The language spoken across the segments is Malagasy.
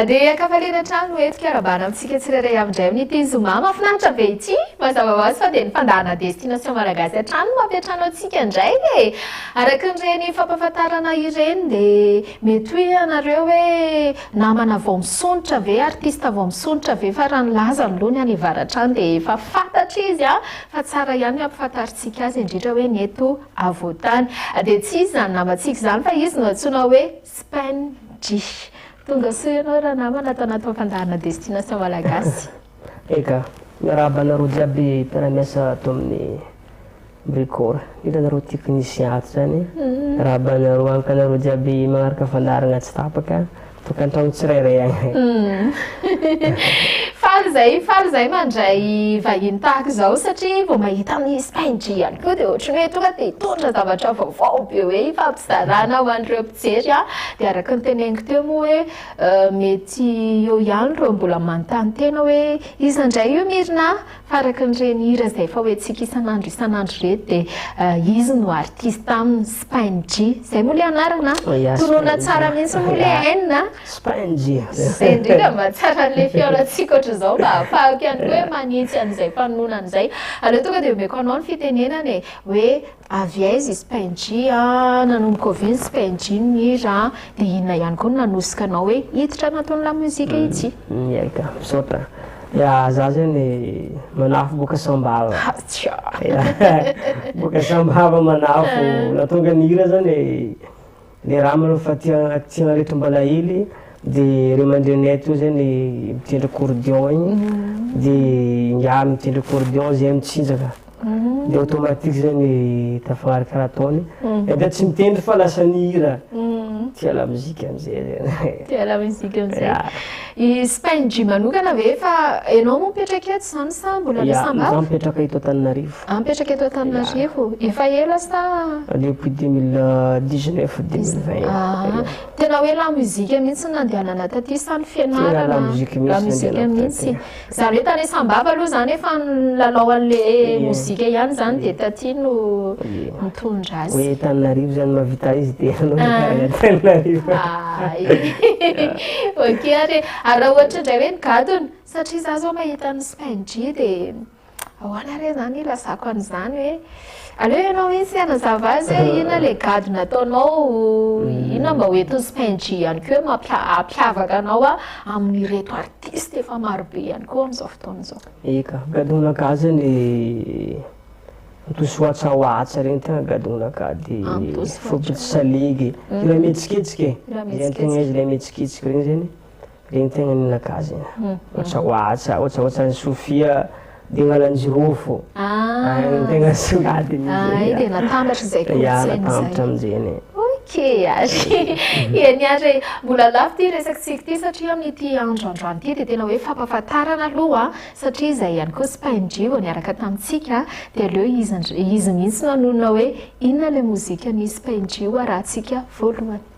Dia an-kafaliana hatrany no hetsika arabana amintsika tsirairay avy indray amin'ity zoma mahafinaritra be ity. Mazava ho azy fa dia ny fandaharana Destination Malagasy hatrany no mampiantrano antsika indray e! Araka an'ireny fampahafantarana ireny dia mety hoe ianareo hoe namana vao misondrotra ve, artista vao misondrotra ve fa raha ny laza aloha ny any avaratra any dia efa fantatra izy fa tsara ihany ny hampahafantarintsika azy indrindra hoe ny eto Avoatany. Dia tsy izy izany namantsika izany fa izy no antsoina hoe Spendry. Tonga soa ianao ranamana ato anaty fampandaharana Destination Malagasy. Eka. Miarahaba anareo jiaby mpiara-miasa ato amin'ny Bricor. Hitanareo technicien ato izany. Miarahaba anareo ankanareo jiaby manaraka fandaharana tsy tapaka. Tokantrano tsirairay any. Faly zay, faly zay mandray vahiny tahaka izao satria vao mahita an'i Spendry ihany koa dia ohatry ny hoe tonga dia hitondra zavatra vaovao be hoe hifampizarana ho an'ireo mpijery an! Dia araka ny teneniko teo moa hoe mety eo ihany ireo mbola manontany tena hoe iza indray io Mirina? Fa araka ny reny hira izay efa hoentsika isan'andro isan'andro ireto dia izy no artiste aminy, Spain-G. Izay moa ilay anarana an? Tonona tsara mihitsy moa ilay N an! Spain-G. Izay indrindra mba tsy haran'ilay fihaonantsika hoatr'izao mba hahafahako ihany koa hoe manitsy an'izay mpanonona an'izay. Aleo tonga dia omeko anao ny fitenenana e, hoe. Avy aiza i Spenjy a? Nanomboka oviana Spenjy no mihira a? Dia inona ihany koa no nanosika anao hoe hiditra anatin'ny lamozika ity? Miaika, misaotra. Ya, za zany manafo boka Sambava. Ha, tsia! Ya, boka Sambava manafo. Nahatonga ny hira zany. Ny raha manao fa tia tia an'reto mbana ely de reo mandrenay to zay ny mitendry accordion igny de ingahy mitendry accordion zay mitsinjaka de automatique zay ny tafagnaraka raha ataony na dia tsy mitendry fa lasa mihira tia lamozika am'zay zany tia lamozika am'zay I Spain Jim manokana ve fa ianao moa mipetraka eto izany sa mbola any Sambava? Izaho mipetraka eto Antananarivo. Ah, mipetraka eto Antananarivo. Efa ela sa? Depuis 2019, 2020. Ah, tena hoe lamozika mihitsy ny nandehanana taty sa ny fianarana? Tena lamozika mihitsy ny nandehanana taty. Zany hoe tany Sambava aloha zany efa nilalao an'le mozika ihany zany dia taty no nitondra azy. Hoe Tananarivo zany mahavita izy dia anao nikarana ah. Tananarivo. Ah, ok ary ary raha ohatra indray hoe nigadona satria za zao mahita ny Spain G dia ahoana re zany ilazako an'izany hoe Aleo ianao mihitsy hanazava azy hoe inona ilay gadona ataonao, hmm. inona mba ho entin'i Spenji ihany koa hoe mampiavaka anao amin'ireto artiste efa marobe ihany koa amin'izao fotoana izao. Eka, gadona ka zany antosy watsa watsa regny tena gadona ka de fopitsy saligy, hmm. ilay mihetsiketsika, ilay mihetsiketsika regny zany. Dia ny tegna nilaka azy e. Ohatsa ohatsa, ohatsa ohatsa an'i Sofia Dingalaljirofo. Ah. Ay, ny tegna songadiny izay. Ay, dia natambatra izay kolontsaina izay. Ya, natambatra amin'izay. Ok, ary ya ny ary mbola lafo ity resakintsika ity satria amin'ity andro androany ity dia tena hoe fampahafantarana aloha satria izay ihany koa SPINJ vao niaraka tamintsika dia aleo izy ndr- izy mihitsy nanonona hoe inona ilay mozikan'i SPINJ raha antsika voalohany.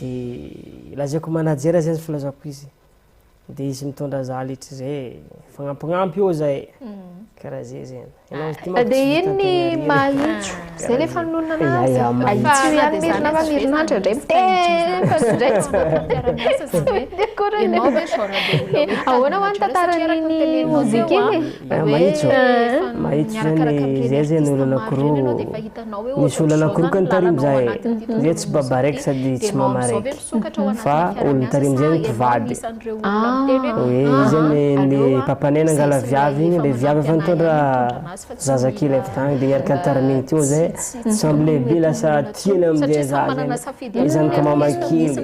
De lazaiko manager zay izy filazako izy de izy mitondra za letry zay e, fagnampignampy eo za e, karaha zay zegny, enao izy ty manko tsy hita tegna irery e. Misy olana korokany tarimo za e! Zay tsy babaraiky sady tsy mamaraiky fa olony tarimo zay ny mpivady e! Izy anie le papanay nangala viavy igny le viavy efa nitondra zaza kely avy tagny de niaraka nitariminy teo zay sambo lehibe lasa tiany amizay zaza igny, izany ka mama kely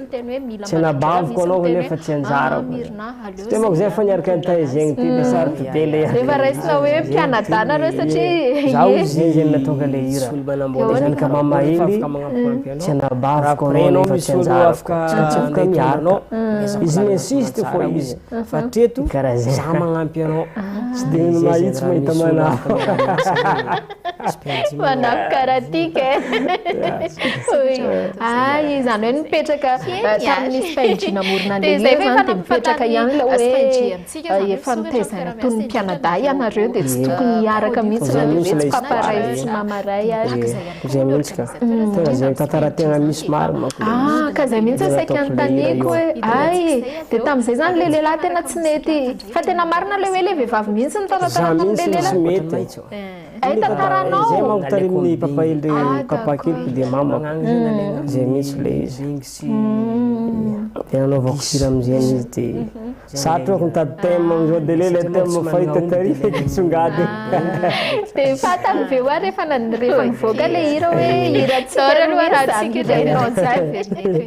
tsy anabaviko anao kanefa tsy anjarako. Tsy dia manko zegny fa niaraka ny tay zegny ty dia sarotra be le hira. Efa raisina hoe mpianadahy nareo satria ye. Za ozy zegny zay natonga le hira. Dia zany ka mamahely tsy anabaviko anao nefa tsy anjarako. Tsy maintsy afaka miaraka. Izy mi-insiste fô izy. Karaha zegny. Tsy dia mahitsy mahita manahaka. Manafy karatika e. Ah, izany hoe nipetraka eh, tamin'ny 5G namorona an'ilay hira izany dia mipetraka ihany ilay hoe eh, efa nitaizaina toy ny mpianadahy ianareo dia tsy tokony hiaraka mihitsy na dia hoe tsy papa ray tsy mama ray ary. Izay mihitsy ka. Mm. Tena izay tantara tena misy maro manko. Ah, ka izay mihitsy saika anontaniako hoe ay dia tamin'izay izany ilay lehilahy tena tsy nety fa tena marina ilay hoe ilay vehivavy mihitsy ny taratarana amin'ilay lehilahy. Ay tantaranao. Zay manko taremin'ny papa iny le papa kely ko dia mama ko zay mintsy le izy de nanaovako sira amzegny izy de satro ako nitady thème amzao de le ilay thème fahita tary fa nisongadina. De fantany ve hoa refa refa nivoaka le hira hoe hira tsika roa samy iray.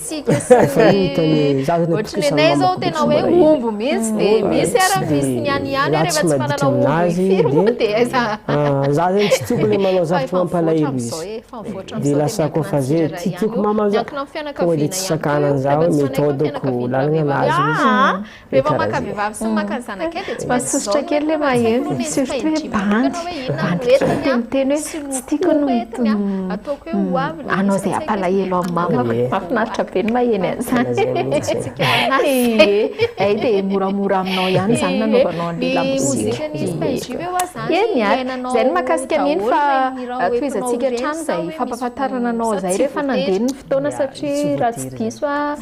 tsika sy ny ohatry ny anay zao tena hoe omby mihitsy de misy ara misy ny any ihany hoe rehefa tsy manana omby firy moa de aiza za zany tsy tiako le manao zavatra mampalahelo izy de lasa koa fa zay ty tiako mama za tonga de tsy sakanany za hoe méthode ko lalana nazy izy Rehefa maka vehivavy sy maka ny zanakay dia tsy maintsy Masosotra kely le maheno, surtout hoe bandy, bandy kely dia miteny hoe tsy tiako ny ataoko hoe ho avy le hanao izay hampalahelo an'i mama. Mahafinaritra be ny maheno an'izany. Ie, hay dia moramora aminao ihany izany nanaovanao an'ilay lamozika. Ie, miahy. Izay no mahakasika an'iny fa tohizantsika hatrany izay fampahafantarana anao izay rehefa nandeha ny fotoana satria raha tsy diso aho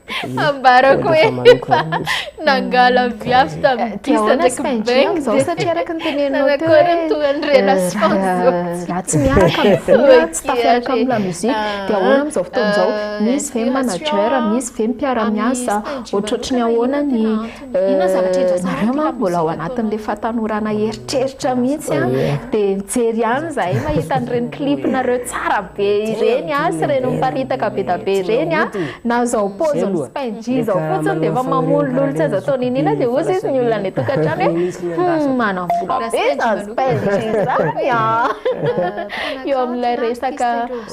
Ambarako hoe efa nangala viavy tamin'ny disa ndraiky bengy zao satria araka ny teneninao teo hoe tohan'ny relation zao raha tsy miaraka amin'ny vola tsy tafiaraka amin'ny lamusique ah, dia ahoana amin'izao fotoana izao ah, misy ve manager misy ve mpiara-miasa ohatrohatry ny ahoana ny Nareo manko mbola ao anatin'le fatanorana eritreritra mihitsy an, de mijery ihany izahay mahita an'ireny clip nareo tsara be ireny an, sy ireny miparitaka be dia be ireny an, na izao pause ny spyg izao fotsiny dia efa mamolololy tsy azo atao niniana dia hoy sisa ny olona any an-tokantrano hoe humm manam-bola be izany spyg izany an, eo amin'ilay resaka.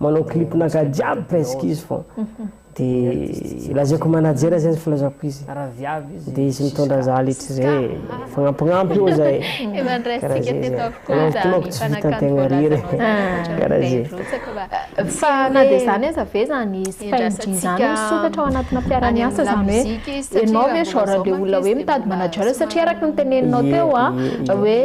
Manao clip naka jiaby presque izy fô de lazaiko manager zay izy filazako izy de izy mitondra za letry zay e fagnampignampy eo zay e kara zay zay anao tolako tsy vitantegna riry e kara zay. Fa na de zany aza ve zany izy. Saingy izany hoe sokatra ao anatina mpiara-miasa izany hoe ianao ve genre de olona hoe mitady manager satria araka ny teneninao teo a hoe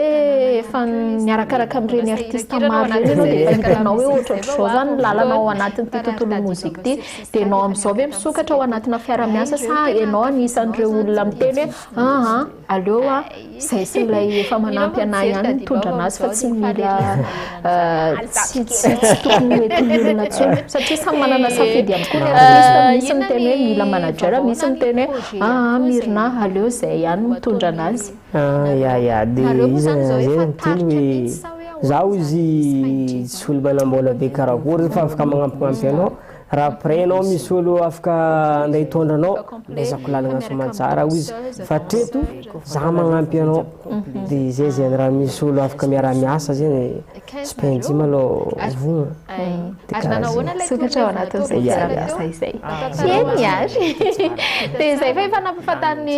efa miarakaraka amin'ireny artiste maro ireny ianao dia efa hitanao hoe ohatraohatrizao izany ny lalana ao anatin'ity tontolon'ny mozika ity dia ianao amin'izao ve misokatra ao anatina mpiara-miasa sa ianao anisan'ireo olona miteny hoe aa aleo a Izay sy ilay efa manampy anah ihany mitondra anazy fa tsy mila tsy tsy tsy tokony ho etin'ny olona intsony satria samy manana safidy ihany koa ny artiste misy miteny hoe mila manager misy miteny hoe aa mirina aleo izay ihany mitondra anazy ah ya ya de izy izay miteny hoe zaho izy tsy olo manam-bola be karakory fa afaka magnampignampy anao Raha pret ianao misy olo afaka ande hitondra anao de ezako lalagna soamantsara ao izy fa treto za magnampy anao de zay zegny raha misy olo afaka miaraha miasa zegny tsy penjy malô vogna de kara zegny. Sokatra ao anatin'izay fiaraha-miasa izay. Tsy hay ny ahy. Dia izay fa efa nampahafantarin'ny.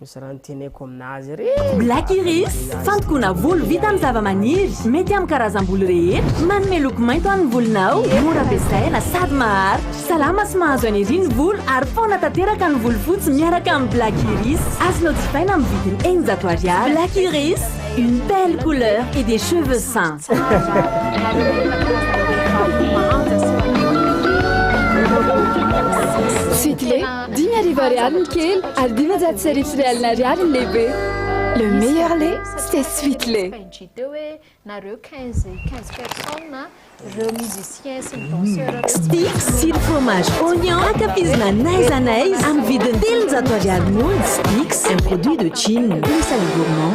Misy raha noteneko aminazy re! Black Iris, fandokoana volo vita amin'ny zavamaniry, mety amin'ny karazam-bolo rehetra, manome loko mainty ho an'ny volonao, mora ampiasaina sady maharitra, salama sy mahazo eneria ny volo ary faona tanteraka ny volo fotsy miaraka amin'ny Black Iris. Azonao jifaina amin'ny vidiny eninjato ariary. Black Iris, une belle couleur et des cheveux sains. Sitile. Dimy arivo ariary ny kely ary dimanjato sy arivo sy iray alina ariary ny lehibe. Le meilleur lait, c'est Sweet Lait. Stick sy ny fromage oignon ankafizina n'aiza n'aiza amin'ny vidiny telonjato ariary monja. Stick, un produit de Chine. Le sale gourmand.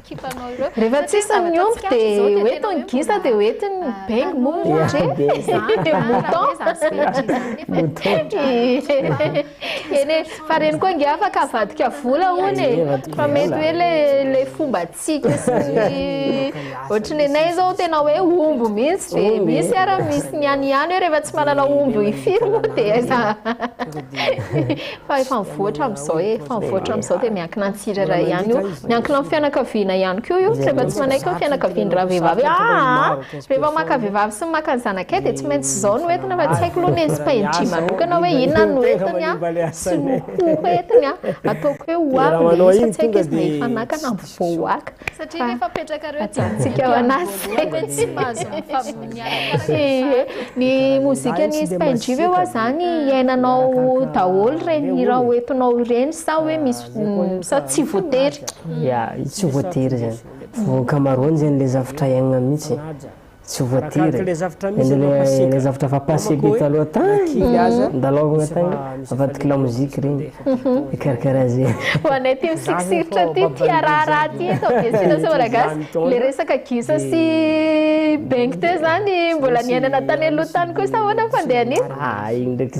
kipanao ireo. Rehefa tsisy ny omby dia ho eto ny gisa dia ho eto ny bengy moa hoe dia eny e fa reny koa nge afaka avadika vola hono e fa mety hoe le fombantsika sy ohatran'ny anay izao tena hoe omby mihitsy dia misy ara misy ny any ihany hoe rehefa tsy manana omby firy moa dia aiza Fa efa mivoatra amin'izao e, efa mivoatra amin'izao dia miankina an'ny tsirairay ihany io. Miankina amin'ny fianakaviana ihany koa io, tsy efa tsy manaiky ny fianakavian-dravehivavy hoe aa, rehefa maka vehivavy sy maka ny zanakay dia tsy maintsy izao no entiny fa tsy haiko aloha ny SPNJ manokana hoe inona no entiny sy ny ho entiny, ataoko hoe ho avy ilay izy fa tsy haiko izy na efa naka na mbola. Voaoaka. Satria rehefa apetrakareo aty ambony voalohany hoe tsy mahazo mifampinia arakaraka ny fahato. Ny mozikan'i Spain G ve hoa zany iainanao daholo ireny hira ho entinao ireny sa hoe misy sa tsy voatery? Ya, tsy voatery zany. Voankamaroany zany le zavtra iainana mihitsy. Tsy voatery. Ilay zavatra efa passé be taloha tany. Nandalaovina tany. Avadika lamoziky ireny. Mikarakara azy e. Ho anay tia misirisiritra ity, tia raharaha ity eto amin'ny Biasinasy Malagasy, ilay resaka gisa sy bengy teo izany mbola niainana tany aloha tany koa sa ahoana no fandehan'iny? Iny ndraiky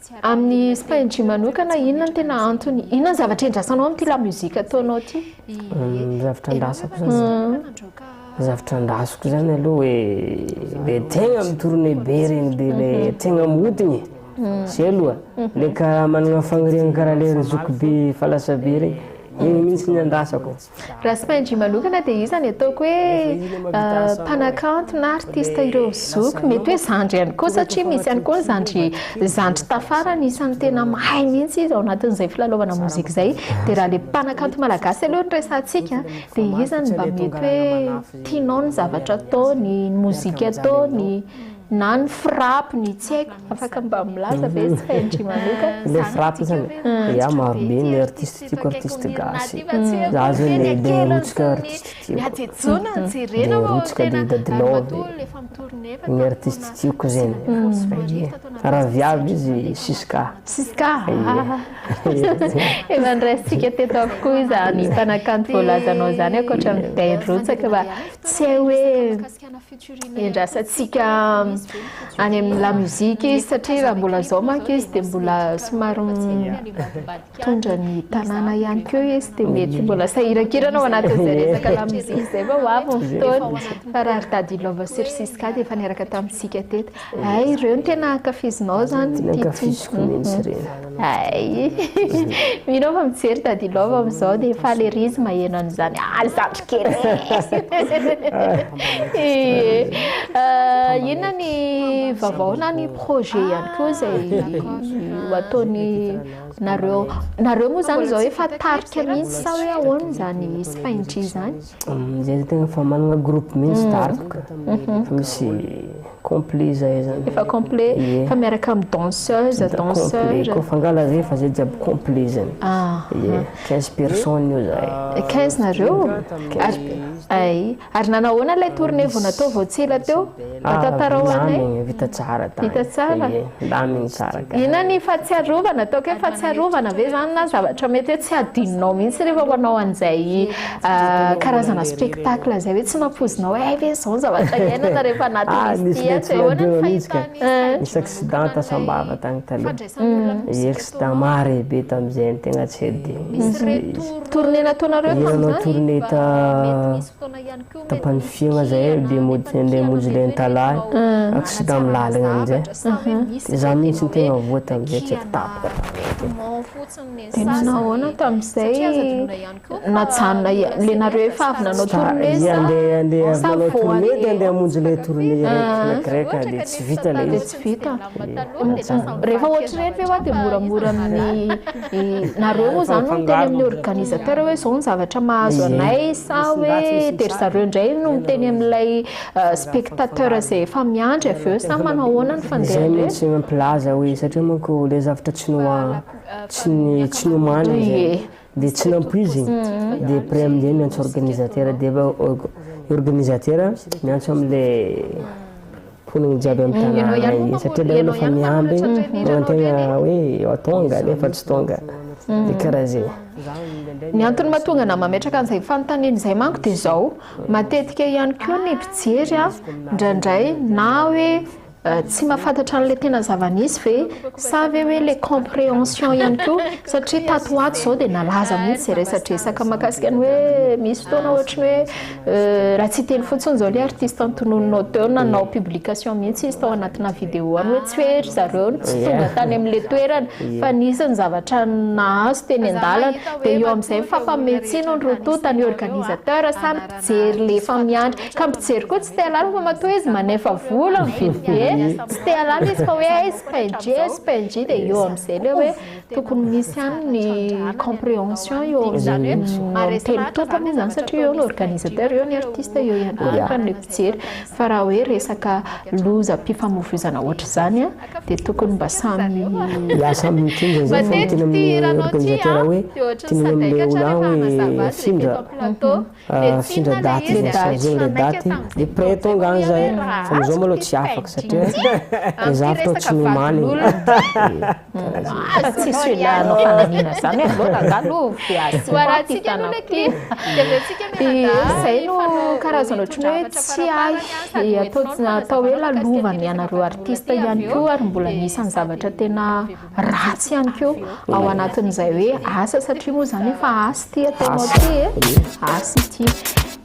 Amin'ny spyg manokana inona no tena antony? Inona ny zavatra endrasanao amin'ity la musique ataonao ity? Ny zavatra andrasako zany. Ny zavatra andrasako zany aloha hoe le tegna mitorone be regny be le mhm. tegna modigny. Mhm. Zay aloha. Mhm. Le karaha managna fagniriagna karaha le zokibe falasabe regny. Igny mihitsy ny andrasako. Raha tsy mahay ndry manokana dia iza ny ataoko hoe mpanakanto na artiste ireo zoky mety hoe zandry ihany koa satria misy ihany koa ny zandry zandry tafara ny isan'ny tena mahay mihitsy izy ao anatin'izay filalaovana mozika izay dia raha ilay mpanakanto malagasy aloha no resahantsika dia iza no mba mety hoe tianao ny zavatra ataony ny mozika ataony Na ny frappe ny tsy haiko afaka mba milaza ve tsy hainy ndry manoka. Ilay frappe zany e, ia maro be ny artiste tiako artiste gasy, za zao le le rotsika artiste tiako, le rotsika de dady love, ny artiste tiako zegny, ie raha viavy izy siska, siska ie. Efa noraisintsika teto avokoa izany mpanakanto voalazanao zany ankoatran'ny dady rotsaka fa tsy hay hoe. iandrasantsika any amin'ny lamusique izy satria raha mbola zao manko izy dia mbola somary mitondra ny tanàna ihany koa izy dia mety mbola sahirankirana ao anatin'izay resaka lamusique izay fa ho avy ny fotoana fa raha ry dady Ilova sy ry Siska dia efa niaraka tamintsika teto Ay ireo no tena ankafizinao zany Tena ankafiziko mihitsy ireny. Ay mino aho fa mijery Daddy Love amin'izao dia faly ery izy maheno an'izany ah ry zandry kely ee. Eh, inona ny vaovao na ny projet ihany koa izay ho ataony nareo nareo moa zany izao efa tarika mihitsy sa hoe ahoana izany sy Paindry izany? Zay tegna fa managna groupe mihitsy mm. daroka mm-hmm. fa misy complet zay zany efa complet fa miaraka amin'ny danseuse danseur ko fangala zay fa zay jiaby complet zany ah, ye 15 ah. personnes io zay 15 nareo ary ay ary nanahoana ilay tournée vao natao vao tsy ela teo Tantarao anay. Ndamy vita tsara tany. Vita tsara. Ie, ndamy nikaraka. Inona ny fahatsiarovana? Ataoko hoe fahatsiarovana ve zany na zavatra mety hoe tsy adinonao mihitsy rehefa manao an'izay karazana spectacle zay hoe tsy nampoizinao hoe hay ve izao ny zavatra iainana rehefa anatin'izy ity an? Dia ahoana ny fahitana? Nisy accident tasam-bava tany taloha. Ie, accident mare be tamin'izay ny tegna tsy adinoko. Tournée nataonareo tamin'izany? Ie, nanao tournée ta Tapany fiaigna zay dia mody ndeha hamonjy lentalahy accident amin'ny lalagna amizay dia za mintsy no tegna voa tamizay tsy haiko tapaka tapaka Dia nanao ahoana tamizay najanona le nareo efa avy nanao tournée sa sa voa le? Dia andeha andeha hamonjy le tournée raiky na grec dia tsy vita le izy. Vita. Rehefa ohatr'ireny ve hoa dia moramora amin'ny nareo moa izany no miteny amin'ny organisateur hoe izao ny zavatra mahazo anay sa hoe dia ry zareo indray no miteny amin'ilay euh, spectateur izay efa miandry avy eo sa manao ahoana ny fandehany reny? Izay mihitsy mampilaza hoe satria manko ilay zavatra tsy noha euh, tsy ny tsy nomanina izay. Dia tsy nampoiziny, dia après amin'izay miantso organisateur, dia efa org- organisateur miantso an'ilay mponina jiaby amin'ny tanàna iny, satria ilay olona efa mihamby manantena hoe efa tonga nefa tsy tonga, dia karaha zay. Ny antony mahatonga anah mametraka an'izay fanontaniana izay manko dia izao, matetika ihany koa ny mpijery an, indraindray na hoe Tsy mahafantatra an'ilay tena zava-nisy ve? Sa ve hoe ilay comprehension ihany koa? Satria tato ho ato izao dia nalaza mihitsy izay resadresaka mahakasika ny hoe misy fotoana ohatry ny hoe raha tsy hiteny fotsiny izao ilay artiste antononinao teo na nanao publication mihitsy izy tao anatina video any hoe tsy hoe ry zareo no tsy tonga tany amin'ilay toerana fa nisy ny zavatra nahazo teny an-dalana. Dia eo amin'izay mifampamihetsino ny roa tonta, ny organisateur sa ny Mijery le efa miandry ka mijery koa tsy te alalina fa matoa izy manefa vola mividy be tsy te alalina izy fa hoe aiz png aiz png dia eo amin'izay le hoe tokony misy ihany ny comprehension eo izany hoe ary telo toaka moa izany satria eo ny organisateur eo ny artiste eo ihany koa ny mpijery fa raha hoe resaka loza mpifamovoizana ohatr'izany a dia tokony mba samy hiasa amin'ny kinjiny zay fa ny teny amin'ny organisateur hoe teny amin'ilay olona hoe findra findra daty zay chargé ilay daty dia près tonga any zay fa amizao maloha tsy afaka satria le zavatra ao tsy mimaly tsisy olona hanao fanamiana zany hoe aleo rangahy aloha voarantsika aloha le clip dia aventsika mianadahy zay no karazana ohatran'ny hoe tsy hay atao hoe lalovana ianareo artista ihany koa ary mbola anisan'ny zavatra tena ratsy ihany koa ao anatin'izay hoe asa satria moa izany efa asa ity ataonao ity e asa ity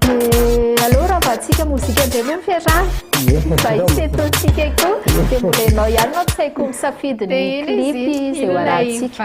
dia aleo raha vatsika mozika indray moa fiarahana fa hisy etontsika koa dia mbola ianao ihany mampisaiko misafidy ny clip izay ho arantsika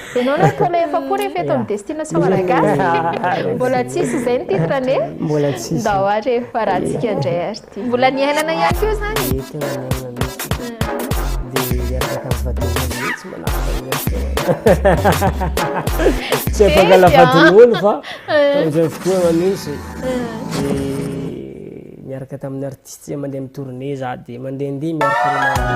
Ianao no taona efa-polo rehefa eto amin'ny Destination Malagasy. Mbola tsisy izay ny titre anie. Mbola tsisy. Ndao ary rehefa ratsika indray ary ity. Mbola ny iainana ihany koa izany. Dia tena ny iainana mihitsy. Dia hiaraka amin'ny vadin'olo mihitsy manaraka. Tsy afaka la vadin'olo fa tamin'izay fotoana mihitsy. Niaraka tamin'ny artistes zay mandeha amin'ny tournée za dia mandehandeha miaraka aminao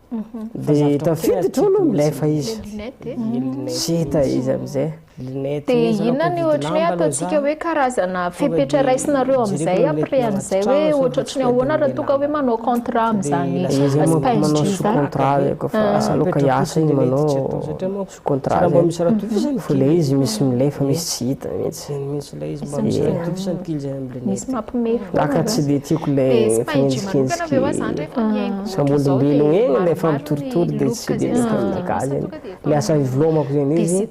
Dia tafiditra ao aloha ilay fa izy. Tsy hita izy amin'izay. Dia inona ny ohatry ny hoe ataontsika hoe karazana fepetra raisinareo amin'izay après an'izay hoe ohatrotry ny ahoana raha toa ka hoe manao contrat amin'izany Spice Jeans zany? Izy manao sous contrat, asa aloha ka hiasa iny manao. Contrat zay. Mba misy raha tokisany kely. Ilay izy misy milay fa misy tsy hita mihitsy. Zany mihitsy ilay izy mba misy raha tokisany kely zay amin'ny lunette. Misy mampime foana. Za ka tsy dia tiako ilay fanenjikenjiky samy olombelogna egny ilay fampitoritory dia tsy dia mety aminakahy zay. Ilay asa ivelomako zay izy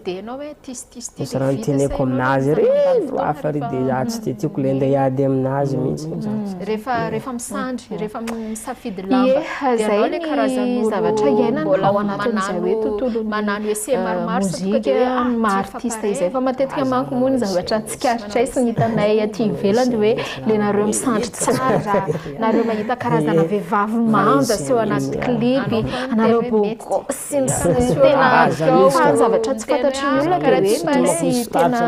misy raha niteneniko aminazy ary andro hafa ary dia za tsy dia tiako ilay andeha hiady aminazy mihitsy. lamba dia anao ilay karazan'olo mbola manano manano essai maromaro sa tonga dia hoe ah tsy mifampare izay fa matetika manko moa ny zavatra tsikaritra sy ny hitanay aty ivelany hoe le nareo misandry tsara nareo mahita karazana vehivavy manja sy eo anaty clip anareo bogo sy ny sy tena fa ny zavatra tsy fantatry ny olona dia hoe misy tena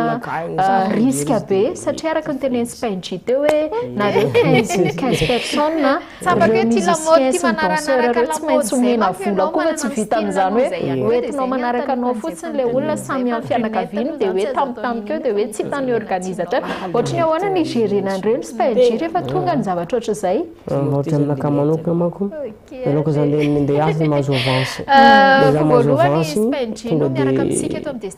risque be satria araka ny tenenin'i Spain G teo hoe nareo 15 15 personnes Ireo musiciens sy ny danseurs ireo tsy maintsy omena vola koa ve tsy vitan' izany hoe hoentinao manaraka anao fotsiny ilay olona samy amin'ny fianakaviany dia hoe tampotampoka eo dia hoe tsy hitan'ny organisateurs ohatry ny ahoana ny higerena an'ireny spyg rehefa tonga ny zavatra ohatry izay? Raha ohatry aminakahy manokana manko ianao koa izany dia minday azy dia mahazo avance dia izaho mahazo avance iny tonga dia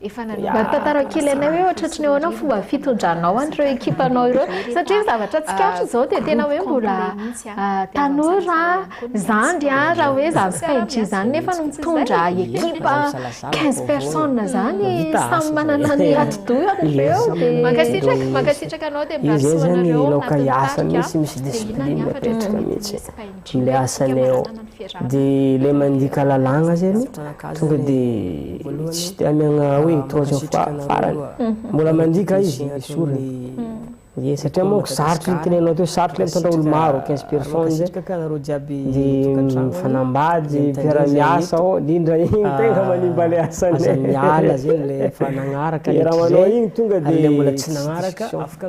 efa nanomboka Mba tantara kely anay hoe ohatratry ny ahoana ny fomba fitondranao an'ireo ekipanao ireo satria ny zavatra tsikaritra izao dia tena hoe mbola tanora zandry raha hoe zany sy png zany nefa no mitondra ekipa 15 personnes zany samy manana ny atidohany ireo dia mankasitraka mankasitraka anao dia mba soa anareo nahatonga anarika dia inona ny hafatra tokony ho izy png le asany eo de le mandika lalàgna zegny tonga de tsy de amiagna hoe troisième fois farany mbola mandika izy esoriny ye satria manko sarotry ny teneninao teo sarotry le mitondra olo maro quinze personnes zay de mifanambady mpiara miasa ô de indra igny tegna manimba le asany aza miala zegny le efa nagnaraka le raha manao igny tonga de le mbola tsy nagnaraka afaka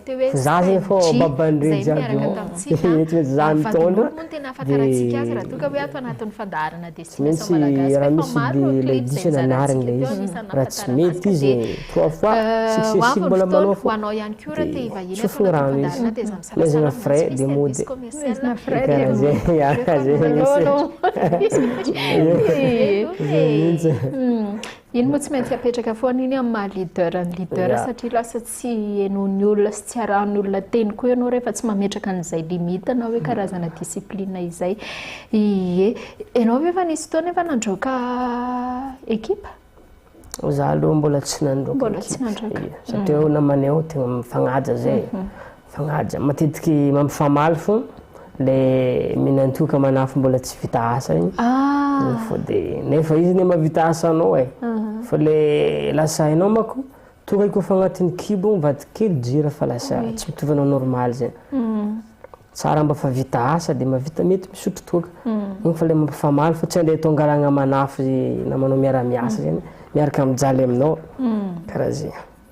Za zay fô baban'ireo jiaby ô, eto eto za mitondra de tsy maintsy raha misy de le diso nanariny le izy, raha tsy mety izy trois fois successive mbola manao fô de tsofigny rano izy, amezagna frais de mody, karaha zay, ya zay mintsy, zay mintsy. Iny moa tsy maintsy apetraka foana iny amin'ny maha leader ny leader satria lasa tsy henoin'ny olona sy tsy arahan'ny olona teny koa ianao rehefa tsy mametraka an'izay limite na hoe karazana discipline izay. Ie. Ianao ve efa nisy fotoana efa nandroaka ekipa? Za aloha mbola tsy nandroaka ekipa. Mbola tsy nandroaka. Satria namanay ao tegna mifagnaja zay. Fagnaja, matetiky mampifamaly fô le minan-toaka manafo mbola tsy vita asa igny ah. fô de nefa izy ne mavita asa anao e fa le lasa hainao manko toaka igny kôfa agnatin'ny kibo igny vady kely jira fa lasa mm. tsy mitovy anao normaly zegny mm. tsara mba fa vita asa de mavita mety misotro toaka mm. igny fa le mampifamaly fa tsy andeha atao angalagna manafo namanao miara-miasa zegny miaraka mijaly aminao karaha zegny